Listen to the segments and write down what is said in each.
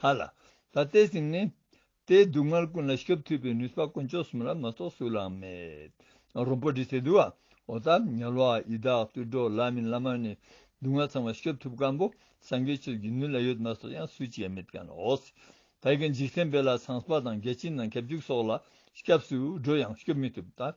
ལྷ་ལ། ད་ལྟའི་སེམས་ནི། དེའི་སྡུག་བསྔལ་ཀུན་ལ་ཞུགས་ཐུབ་པའི་ནུས་པ་དཀོན་མཆོག་གསུམ་ལ་མ་གཏོགས་སུ་ལའང་མེད། རོང་པོ་འདི་ཟེར་དུས་ཨོ་ད་ཉལ་བ་ཡི་དྭགས་བརྟུལ་འགྲོ་བླ་མིན་བླ་མར་ནི་སྡུག་བསྔལ་ཚང་བ་ཞུགས་ཐུབ་དཀར་པོ་སངས་རྒྱས་ཆོས་ཀྱི་ནུས་ལ་ཡོད་མ་གཏོགས་ཡང་སུ་བྱས་མེད་ཀྱང་ཨོ་སི་ད་ཀྱི་འཇིག་རྟེན་དཔེ་ལ་ཚངས་པ་དང་རྒྱལ་སྤྱིའི་ནང་ཁྱབ་འཇུག་སོགས་ལ་སྐྱབས་སུ་འགྲོ་ཡང་ཞུགས་མི་ཐུབ་ད།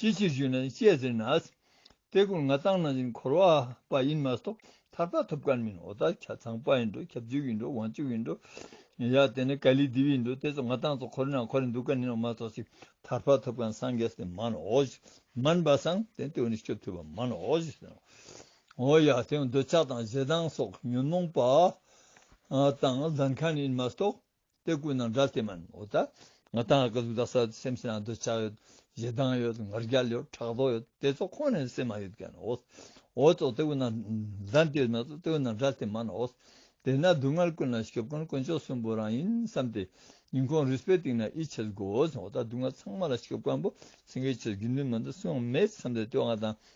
ཅིའི་ཕྱིར་ཞུས་ན་ཤེས་ཟེར་ན། ལྟས་ཀུན་ང་བཏང་ན་ཡིན་འཁོར་བ་པ་ཡིན་མ་གཏོགས་ཐར་པ་ཐོབ་ཀར་མིན་འོ་ད་ཁྱ་ཚང་པ་ཡིན་འགྲོ་ཁྱབ་འཇུག་ཡིན་འགྲོ་དབང་ཕྱུག་ཡིན་འགྲོ། ཡ་དེ་ནས་ཀ་ལི་དེའུ་ཡིན་འགྲོ་དེ་ཚོ་ང་བཏང་ཚོ་འཁོར་ན་འཁོར་རེ་འདུག་ཀར་ནི་ནོ་མ་གཏོགས་ཤིག་ཐར་པ་ཐོབ་ཀར་སངས་རྒྱས་སྟེ་མ་ནོ་ཞེས་མན་པ་སངས་དེ་དེའུ་ནི་སྐྱོབ་ཐུབ་པ་མ་ནོ་ཞེས་ཟེར་ནོ། འོ་ཡ་དེའུ་འདོད་ཆགས་དང་ཞེ་སྡང་སོགས་ཉོན་མོངས་པ་དང་ལྡན་ཁར་ནི་ཡིན་མ་གཏོགས་དེ་ཀུན་ནང་སྒྲ་དེ་མིན་འོ་ད། ང་དང་ཨ་ཀ་ལུག་རྟ་ས་སེམས་ཤིང་ཨ་འདོད་ཆགས་ཡོད། ཞེ་སྡང་ཡོད་ངར་རྒྱ་ཡོད་ཕྲག་དོག་ཡོད་དེ་ཚོ་ཁོ་ནའི་སེམས་མ་ཡོད་མཁན་ཨོ། འོ་ད་དེ་ཀུན་ནང་སྒྲ་དེ་མིན་དེ་ཀུན་ནང་སྒྲ་དེ་མིན་འོ། དེས་ན་སྡུག་བསྔལ་ཀུན་ལ་ཞོབ་མཁན་དཀོན་མཆོག་གསུམ་པོ་རང་ཡིན་བསམ་སྟེ། ཉིན་གུང་རུས་པའི་སྟེང་ན་ཨི་བྱེད་དགོས་འོ་ད་སྡུག་བསྔལ་ཚང་མ་ལ་ཞོབ་མཁན་པོ་སེང་གེ་ཆོས་བརྒྱུད་ནུས་མིན་ད་སུའང་མེད་བསམ་སྟེ་དེ་བ་དང་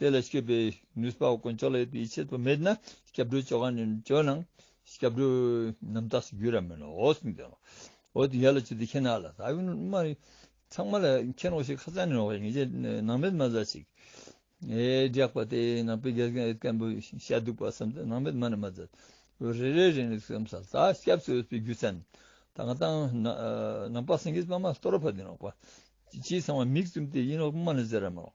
དེ་ལ་སྐྱོད་པའི་ནུས་པ་དཀོན་མཆོག་ལ་ཡོད་པའི་ཡིད་ཆེས་དུ་མེད་ན་སྐྱབས་འགྲོའི་ཆོ་ག་ནི་བཅོལ་ན། སྐྱབས་འགྲོའི་རྣམ་དག་སུ་གྱུར་ཡང་མིན་ནོ། འོད་སྲུང་དེ། འོ་དེ་ཡར་ལ་བཅུག་དེ་ཁྱེད་ནང་ལ་ཟ། ཡུལ་མ། ཚང་མ་ལ་ཁྱེད་ནོག་ཤིག་ཁ་ཚང་ནི་ནོག་ཤིག་ངེད་ཅག་ནང་མེད་མ་ཟ་ཞིག། སྒྲེགས་པ་དེ་ནང་པའི་དགེ་རྒན་སྐད་འབོད་བྱ་འདུག་པ་བསམ་ཚེ་ནང་མེད་མ་ནི་མ་ཟ། རེ་རེ་རེ་ནི་སེམས་ས་ཟ་སྐྱབས་སུ་འོས་པའི་རྒྱུ་མཚན། ད་ང་ད་ནང་པ་སེང་གེ་པདྨ་སྟོད་ར་བ་དེ་ནོག་པ། སྤྱིའི་ཚང་མ་མིག་བཙུམ་སྟེ་ཡིན་ནོག་པདྨ་ནི་ཟེར་ར་མི་ནོག།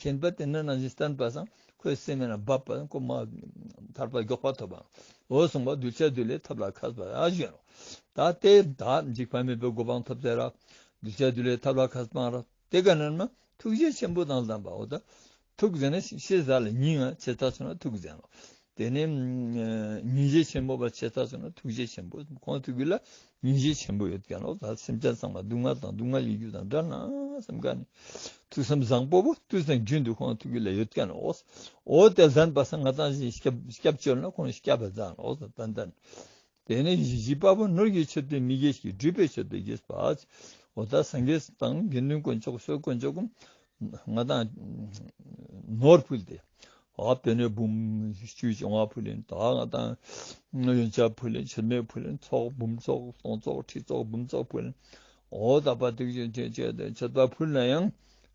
ཁྱིམ་པ་དེ་ནི་ན་ཟིན་བསྟན་པ་དང་ཁོའི་སྲིང་མོ་ན་བབས་པ་དང་ཁོ་མ་ཐར་པར་མགྱོགས་པར་ཐོབ་པའོ། གསུངས་པ་གདུལ་བྱ་བདུད་ལས་ཐབས་ལ་ཁ་སྤངས་ར་བྱེད་རོ། ད་སྟེ། དག་འཇིགས་བར་མེད་པའི་གོ་འཕང་ཐོབ་ཚེ་ར། གདུལ་བྱ་བདུད་ལས་ཐབས་ལ་ཁ་སྤངས་ར། དེ་ག་ནས་ན། ཐུགས་རྗེ་ཆེན་པོ་དང་ལྡན་པའོ། ཐུགས་བཟང་ན་ཤེས་བྱ་ལ་སྙིང། ཆེས་ཐག་ཆོད་ན་ཐུགས་བཟང་ངོ། དེ་ནས་ཉིན་བྱེད་ཆེན་པོ་པ་ཆེ་ཐག་ཆོད་ན་ཐུགས་རྗེ་ཆེན་པོ་གང་ཐུགས་ཀྱི་ལ་ཉིན་བྱེད་ཆེན་པོ་ཡོད་ཀྱང་ལོག་ལྟ་སེམས་ཅན་ཚང་མ་སྡུག་བསྔལ་དང་སྡུག་བསྔལ་ཡོད་རྒྱུ་དང་འདྲ་ན་སེམས་དགའ་ནས་ཐུགས་སེམས་བཟང་པོ་པོ་ཏུ་སེམས་རྒྱུན་དུ་གང་ཐུགས་ཀྱི་ལ་ཡོད་ཀྱང་ལོག་ཨོ་དེ་ལྷན་པ་སང་ང་ཚང་བཞིན་སྐྱབས་བཅོལ་ན་ཁོང་སྐྱབས་པ་ཚང་ལོག་ད་ལྟ་དེ་ནས་ཡིད་བཞིན་དཔའ་བོ་ནོར་གྱི་ཕྱིར་དུ་མི་དགེ་བཤེས་སྦྲུལ་པའི་ཕྱིར་དུ་དགེ་བའི་བར། འོ་ད་སངས་རྒྱས་དང་དགེ་འདུན་དཀོན་མཆོག་བསོད་དཀོན་མཆོག་གམ། ང་དང། ནོར་ཕུལ་ཏེ། ཧཱུྃ་དེ་ནས་བུམ། བཅུད་ཀྱི་བ་ཕུལ་ལེན་དག་ང་དང། ཡོན་ཆབ་ཕུལ་ལེན་ཕྱིར་མེད་ཕུལ་ལེན་ཚོགས་བུམ་ཚོགས་སྟོང་ཚོགས་ཁྲི་ཚོགས་བུམ་ཚོགས་ཕུལ། འོ་ད་བ་དུག་ཅན་ཕྱིར་དུ་ཕུལ་ན་ཡང།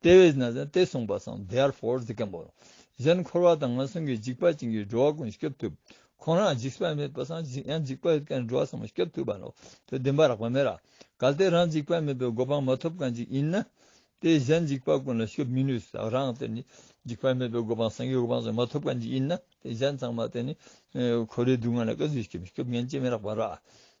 ལྟེ་བའི་ན་བཟན་ཏེ་གསུངས་པ་སམ Therefore འདི་ཀ་འབོ། གཞན་འཁོར་བ་དང་ངན་སོང་གི་འཇིགས་པ་ཅན་གྱི་འགྲོ་བ་ཀུན་བསྐྱོབ་ཐུབ། ཁོང་རང་འཇིགས་པ་མེད་པ་སམ་འཇིགས་ཡང་འཇིགས་པ་ཡོད་མཁན་འགྲོ་བ་ཚང་མ་བསྐྱོབ་ཐུབ་པ་ནོ། དེ་བདེན་པ་རགས་པ་མེད། གལ་ཏེ་རང་འཇིགས་པ་མེད་པའི་གོ་འཕང་མ་ཐོབ་གང་ཅིག་ཡིན་ན། དེས་གཞན་འཇིགས་པ་ཀུན་ལ་བསྐྱོབ་མི་ནུས་སོ། རང་དེ་ནི་འཇིགས་པ་མེད་པའི་གོ་འཕང་སངས་རྒྱས་གོ་འཕང་སོགས་མ་ཐོབ་གང་ཅིག་ཡིན་ན། དེས་གཞན་ཚང་མ་དེ་ནི་འཁོར་བའི་སྡུག་བསྔལ་ལ་བསྐལ་བཟོད་ཀྱིས་བསྐྱོབ་ཉན་ཅི་མི་རགས་པ་ར།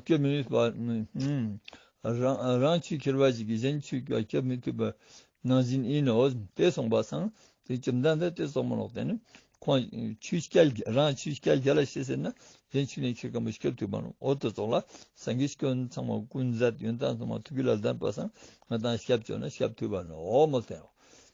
སྐྱོབ་མི་ནུས་པ། རང་ཆུས་ཁྱེར་བ་ཞིག་གིས་གཞན་ཆུས་ཀྱང་སྐྱོབ་མི་ཐུབ་པ། ནང་བཞིན་ཡིན་ནོ། དེ་གསུངས་པ་སངས་རྒྱས་བཅོམ་ལྡན་འདས་དེ་གསུངས་མ་ལོག་དེ་ནི། ཁོང་ཆུས་སྐྱལ་རང་ཆུས་སྐྱལ་རྒྱ་ལ་ཤེས་ཟེར་ན། གཞན་ཆུས་ནས་ཁྱེར་སྐམ་པོ་སྐྱོབ་ཐུབ་པ། འོ་དོ་ཙོག་ལ། སངས་རྒྱས་སྐྱོན་ཚང་མ་ཀུན་ཟད་ཡོན་ཏན་ཚང་མ་ཐུགས་ཀྱི་ལ་ལྡན་པ་སངས་རྒྱས་དང་ཞབས་བཅོས་ན་ཞབས་ཐུབ་པ། འོ་མ་ཐལ།